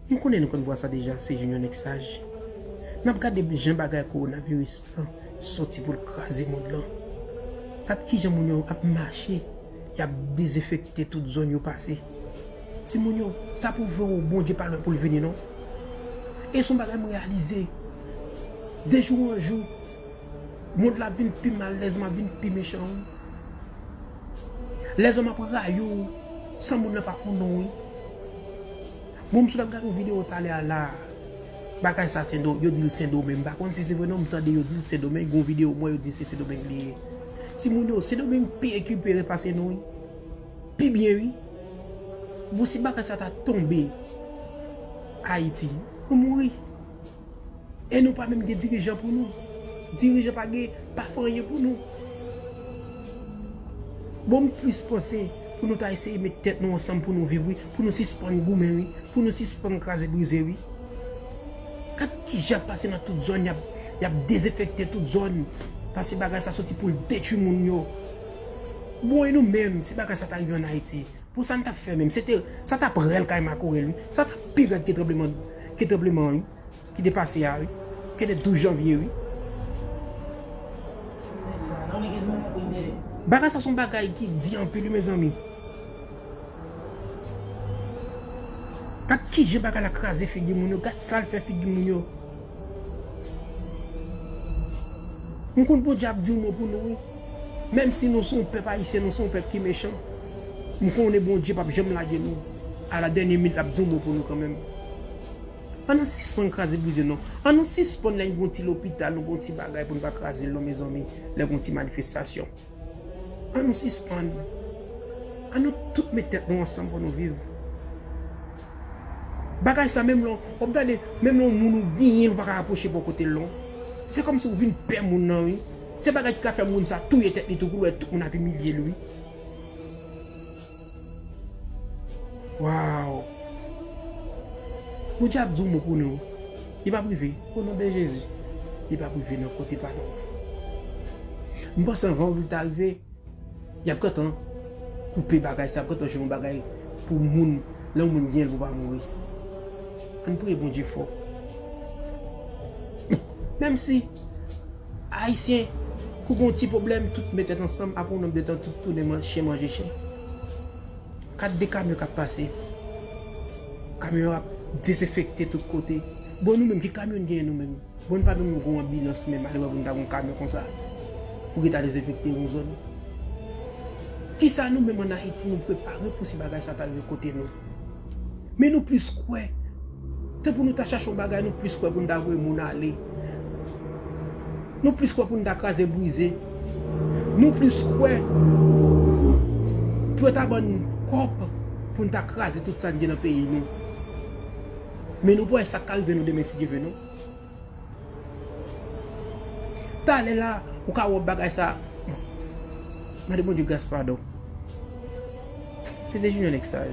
M konnen nou konn vwa sa deja se Junior nèg saj. Nap gade jan bagay coronavirus an soti poul kraze mond lan. Gad kijan moun yo ap mache yap dezenfekte tout zòn yo pase. Timoun yo sa pwouve w Bondye pa lwen poul vini non. E son bagay m reyalize de jou an jou mond la ap vin pi mal lèzòm ap vin pi mechan wi. Lèzòm ap rayi w san moun nan pa konn ou wi. Bon m sot ap gade yon video talè a la a. Bagay sa sendo, yo di l sendomeng. M pa konn si se vre non m tande yo di l sendomeng. Gon video m wè yo di se sendomeng li ye. Timoun yo, sendomeng pi ekipere pase nou wi. Pi byen wi. Bon si bagay sa ta tonbe Ayiti, nou mouri. E nou pa menm gen dirijan pou nou. Dirijan pa gen, pa fè anyen pou nou. Bon m plis panse pou nou ta eseye met tèt nou ansanm pou nou viv wi, pou nou sispann goumen wi, pou nou sispann kraze brize wi. Gad kijan yap pase nan tout zòn, yap dezenfekte tout zòn, pase bagay sa soti poul detwi moun yo. Bon e nou menm si bagay sa ta rive an Ayiti? Pou sa n tap fè menm. Se te, sa tap rèl kay makorèl wi. Sa tap pi rèd ke tranbleman, ke tranbleman an wi. Ki te pase a wi. Ke de 12 janvye wi. Bagay sa son bagay ki di anpil wi mezanmi. Gad kijan bagay la kraze figi moun yo. Gad sal fè figi moun yo. M konn Bondye ap di yon mo pou nou wi. Menm si nou se yon pèp ayisyen nou se yon pèp ki mechan m konnen Bondye pap janm lage nou a la dènye minit lap di yon mo pou nou kanmenm an nou sispann kraze brize non an nou sispann lè gon ti lopital nou gon ti bagay pou nou pa krazel non mezanmi lè gon ti manifestasyon an nou sispann an nou tout met tèt nou ansanm pou nou viv bagay sa menm lè wap gade menm lè yon moun ou byen ou paka apwoche bò kotel non se kòmsi ou vin pè moun nan wi. Se bagay ki ka fè moun sa touye tèt li tou pou l wè tout moun ap imilye l wi. Waww. Bondye ap di yon mo pou nou. Li pap rive. O non de Jezi. Li pap rive nan kote pa nou an. M panse anvan ou li ta rive. Yap gentan koupe bagay sa yap gentan jwe yon bagay pou moun lè yon moun genyen pou pa mouri ann priye bondye fò menm si ayisyen kou gon ti problèm tout met tèt ansanm aprè yon nonm de tan tout tounen chen manje chen gad de kamyon kap pase kamyon ap dezenfekte tout kote bon nou menm ki kamyon n genyen nou menm. Bon pa menm gon anbilans menm alewè pou nou ta gon kamyon konsa pou ki ta dezenfekte yon zòn kisa nou menm an ayiti nou prepare pou si bagay sa ta rive kote nou men nou plis kwè ke pou nou ta chache yon bagay nou plis kwè pou nou ta voye moun ale nou plis kwè pou nou ta kraze brize nou plis kwè pou yo ta ban nou kòb pou nou ta kraze tout sa n gen nan peyi nou. Men nou pa wè sak ka rive nou demen si Dye ve nou. Talè la ou ka wè bagay sa. Mande Bondye gras padon. Se Dejunior nèg saj.